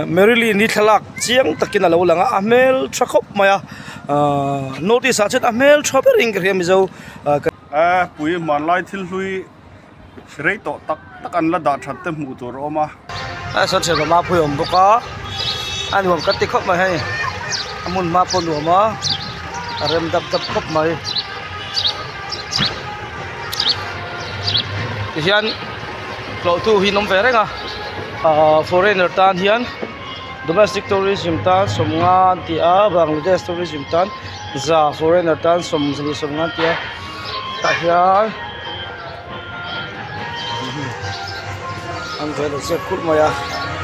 Mary Lee ni thlalak chiang takin a lo lang a a hmel tha khawp mai a ahh notice ah chuan a hmel tha ber in ka hria mizo ahh ka Puii hmanlai thil hlui rei tawh tak tak an la dah that te hmuh tur a awm a. Heng sawn thian mamah pawh hi a awm bawk a a nuam ka ti khawp mai a ni a hmun hma pawh a nuam a a rem dap dap khawp mai tihian-- hlawhtu hi an awm ve reng a aaa foreigner tan hian domestic tourism tan sawmnga an ti a bangladesh tourism tan za foreigner tan sawm zulu sawmnga an ti a tah hian an vei lo zep kulh mai a.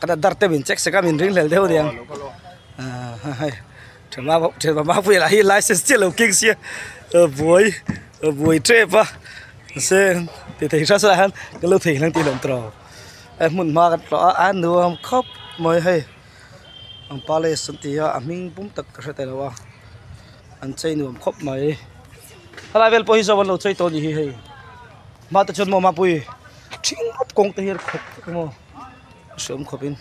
ka dat dar tep in chek sek a min ringhlel deuh nia thianghlimahpuia lah hi license chiah lo keng sia a buai a buai tep a mase ti thei hre sala hian ka lo thei hlang tih a lawm tawh a hmun hma ka tla a nuam khawp mai hei an palace an tia a hming pum tak ka hre thei lo a an chei nuam khawp mai helai vel pawh hi zawk an lo chei tawh a ni hi hei. Mah te chuan maw Mapui ṭhing rawp kawng te hi a ri khawp vek emaw a hre awm khawpin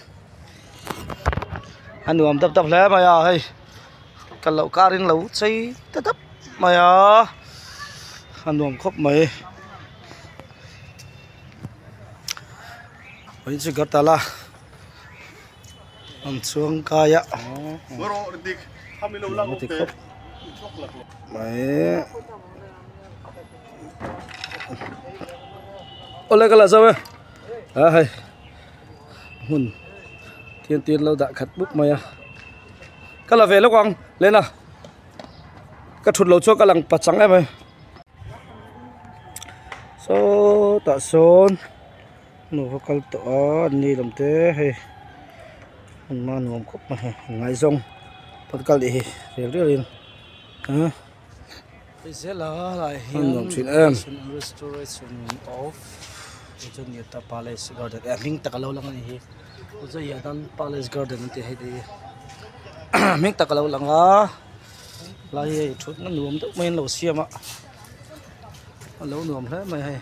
a nuam dap dap hle mai a hei ka lo karin lo chei ta dap mai a a nuam khawp mai pahin chu gartala. an chuang kai a -- Nu kha kal tawh a an ni lawm te hei hun hma nuam khawp mai hi an ngaihzawng pawn kal tih hi riau riau in aa an nuam thin em ahem.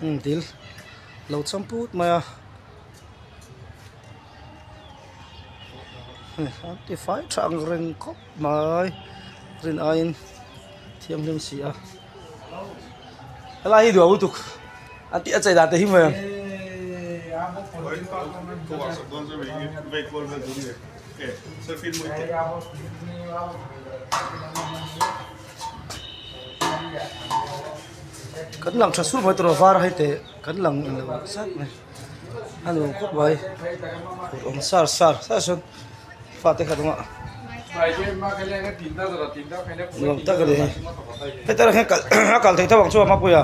hung dil lo cham put mai a an tifai tha ang reng khawp mai rin aiin thianghlim si a helai hi duh lutuk an tih a chei dan te hi mai ang Yeah. Kan lang tha suh mai tur a var a hai teh kan lang lo zat mai a nu khawp mai kut awm sar sar sar chuan fa te khat awmah ni awm tak a ni hetia erawh hian kal a kal thei tho ang chu a hmapui a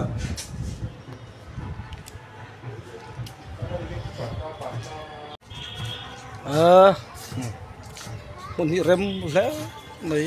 a hmun hi rem hle mai.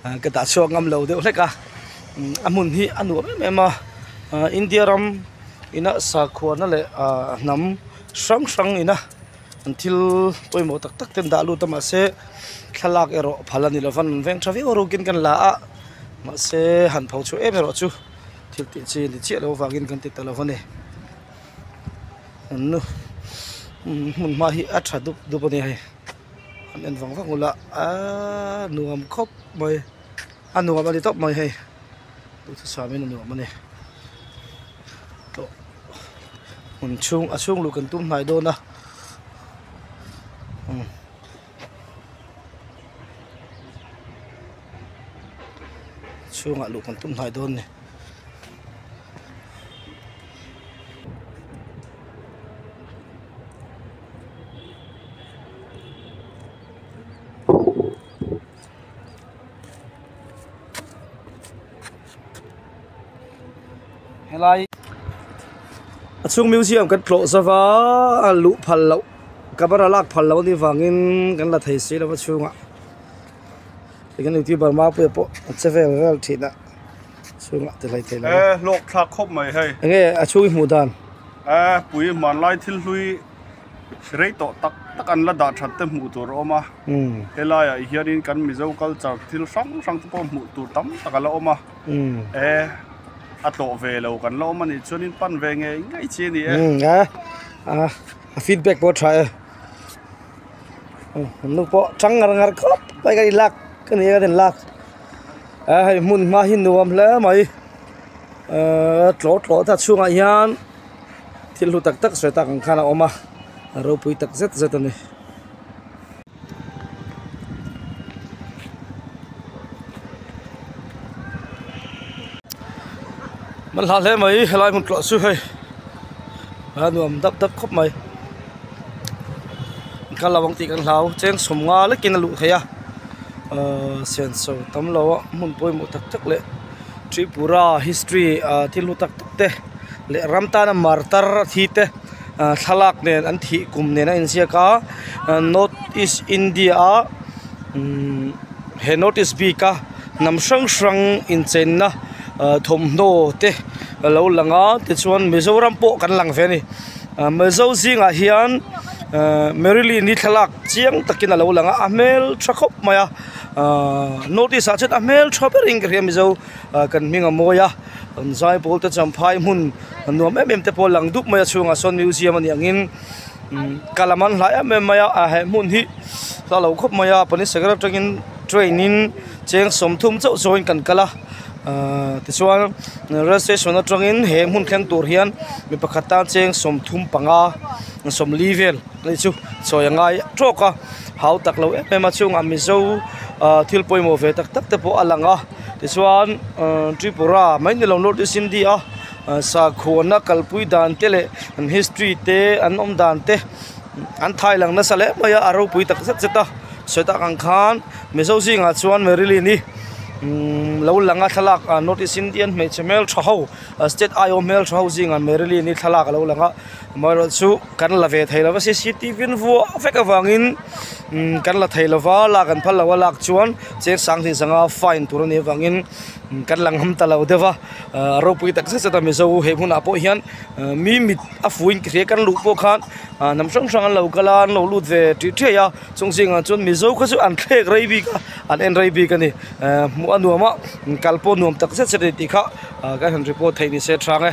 Ka dah chhuak ngam lo deuh hlek a, a hmun hi a nuam em em a, India ram ina sakhuana leh hnam hrang hrang ina an thil pawimawh tak tak ten dah lut a mahse thlalak erawh phal a ni lova nun veng tha viau rukin kan la a, mahse han pho chhuah em erawh chu thil tih chi ni chiah lo vangin kan ti ta lova ni. Nunnu hmun hma hi a tha dup dup a nia hei. an en vang vang ula aa nuam khawp mai a nuam a ni tawp mai hei duhthusam samin a nuam a ni tawh hmun chhung a chhung luk an tum hnai dawn a umm chhungah luh kan tum hnai dawn a ni. helai a chhung museum kan tlawh zova a luh phal loh camera lak phal loh ni vangin kan la thei si lova chhungah tikhian eitur bar mapuiah pawh a che vel vel thin a. chhungah ti hlai thei lo e hlawk thlak khawp mai hei enge a chhung i hmuh dan e pui hmanlai thil hlui rei tawh tak tak an la dah that te hmuh tur a awm a helai ah hianin kan mizo culture thil hrang hrang te pawh hmuh tur tam tak a la awm a e a tlawh ve lo kan la awm a nih chuan in pan ve ngei ngei chi a ni e e a feedback pawh tha e nu pawh chang ngar ngar khawp mai ka ni lak ka ni a ka den lak Aa hei hmun hma hi nuam hle mai aa tlawh tlawh ta chhungah hian thil hlu tak tak sawi tak ang khan a awm a ropui tak zet zet a ni hmanhla hle mai helai hmun tlawh chu hei aa nuam dap dap khawp mai. ka lo ang tih kan hlau cheng sawm nga lekin a luh theih a ahh sian so tam lo a hmun pawimawh tak tak leh tripura history ah thil hlu tak tak te leh ram tana martar a thi te ah thlalak nen an thih kum nen a inziak a ah north east india a umm he north east bik a hnam hrang hrang incheinna ah thawmhnaw te a lo lang a tichuan mizoram pawh kan lang ve a ni. Ahh Mizo zingah hian ahh Marilyn hi thlalak chiang takin alo lang a a hmel tha khawp mai a ahh notice ah chuan a hmel tha ber in ka hria Mizo ahh kan hming a mawi a kan zai pawl te chuan phai hmun nuam em em te pawh a lang dup mai a a chhungah sawn museum a nih ang in umm ka lam an hlai em em mai a ahh he hmun hi hla lo khawp mai a police sakawr atangin train in-- Cheng sawmthum chauh chauhin kan kal a ahh tichuan rail station atangin he hmun thleng tur hian mi pakhat tan cheng sawmthum panga sawmli vel te chu sawi a ngai trawk a hau tak lo em em a chhungah mizo ahh thil pawimawh ve tak tak te pawh a lang a tichuan umm tripura mai ni lo north east india ah sakhuana kalpui dan te leh an history te an awm dan te an thaih lang nasa leh mai a a ropui tak zet zet a sawi dang ang khan-- Mizo zingah chuan Marilyn hi umm lo lang a thlalak ah North East Indian hmeichhe hmel tha ho state aiawh hmel tha ho zingah Marilyn hi thlalak a lo lang a amaherawhchu chu kan la ve thei lova cctv in vuah vek avangin umm kan la thei lova lak an phal loh a lak chuan chiang sang tih sanga fine tur a nih avangin umm kan lang ham ta lo deuh va ah ropui takzet zet a Mizo he hunah pawh hian ah mi mit a fuin ka hria kan luh pawh khan ah hnam hrang hrang an lo kal a an lo lut ve ṭih ṭhiah a. Chung zingah chuan Mizo kha chu an thlek rei bik a, an en rei bik a ni. Ehh hmuh a nuam a, kal pawh nuam tak zet zet a ni tih kha kan han report thei ni se hrang e.